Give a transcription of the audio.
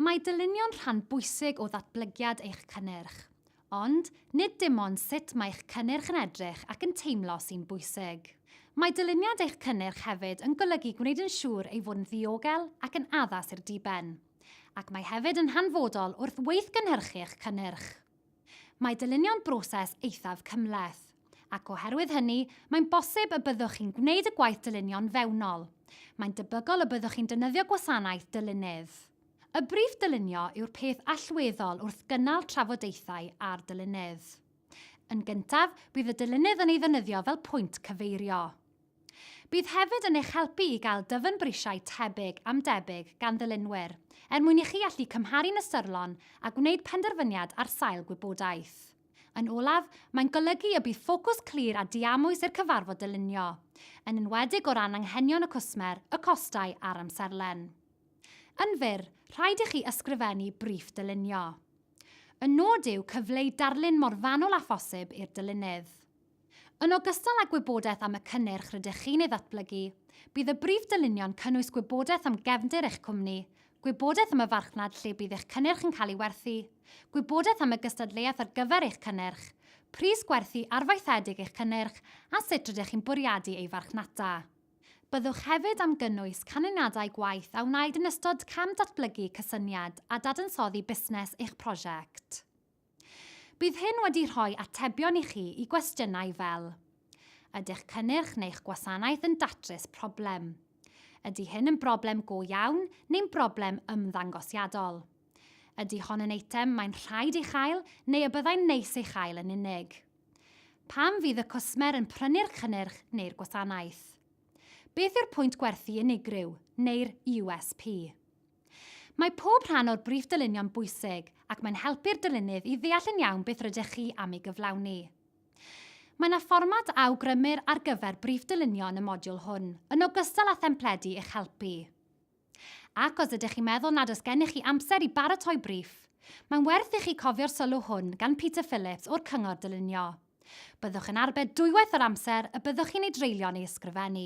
Mae dylunio'n rhan bwysig o ddatblygiad eich cynnyrch. Ond, nid dim ond sut mae eich cynnyrch yn edrych ac yn teimlo sy'n bwysig. Mae dyluniad eich cynnyrch hefyd yn golygu gwneud yn siŵr ei fod yn ddiogel ac yn addas i'r diben. Ac mae hefyd yn hanfodol wrth weithgynhyrchu eich cynnyrch. Mae dylunio'n broses eithaf cymhleth, ac oherwydd hynny, mae'n bosib y byddwch chi'n gwneud y gwaith dylunio'n fewnol. Mae'n debygol y byddwch chi'n defnyddio gwasanaeth dylunydd. Y briff dylunio yw'r peth allweddol wrth gynnal trafodaethau â'r dylunydd. Yn gyntaf, bydd y dylunydd yn ei ddefnyddio fel pwynt cyfeirio. Bydd hefyd yn eich helpu i gael dyfnbrisiau tebyg am debyg gan ddilynwyr, er mwyn i chi allu cymharu'n ystyrlon a gwneud penderfyniad ar sail gwybodaeth. Yn olaf, mae'n golygu y bydd ffocws clir a diamwys i'r cyfarfod dylunio, yn enwedig o ran anghenion y cwsmer, y costau a'r amserlen. Yn fyr, rhaid i chi ysgrifennu briff dylunio. Y nod yw cyfleu darlun mor fanwl â phosib i'r dylunydd. Yn ogystal â gwybodaeth am y cynnyrch rydych chi'n ei ddatblygu, bydd y brif dylunio'n cynnwys gwybodaeth am gefndir eich cwmni, gwybodaeth am y farchnad lle bydd eich cynnyrch yn cael ei werthu, gwybodaeth am y gystadleuaeth ar gyfer eich cynnyrch, pris gwerthu arfaethedig eich cynnyrch a sut rydych chi'n bwriadu ei farchnata. Byddwch hefyd am gynnwys canlyniadau gwaith a wnaed yn ystod cam datblygu cysyniad a dadansoddi busnes eich prosiect. Bydd hyn wedi rhoi atebion i chi i gwestiynau fel Ydych cynnyrch neu'ch gwasanaeth yn datrys problem? Ydy hyn yn broblem go iawn neu'n broblem ymddangosiadol? Ydy hon yn eitem mae'n rhaid ei chael neu y byddai'n neis ei chael yn unig? Pam fydd y cwsmer yn prynu'r cynnyrch neu'r gwasanaeth? Beth yw'r pwynt gwerthu unigryw, neu'r USP? Mae pob rhan o'r briff dylunio'n bwysig ac mae'n helpu'r dylunydd i ddeall yn iawn beth rydych chi am ei gyflawni. Mae yna fformat a awgrymir ar gyfer briff dylunio yn y modiwl hwn, yn ogystal â thempledi i'ch helpu. Ac os ydych chi'n meddwl nad oes gennych chi amser i baratoi briff, mae'n werth i chi cofio'r sylw hwn gan Peter Phillips o'r Cyngor Dylunio, Byddwch yn arbed dwywaith yr amser y byddwch chi'n ei dreulio'n ei ysgrifennu.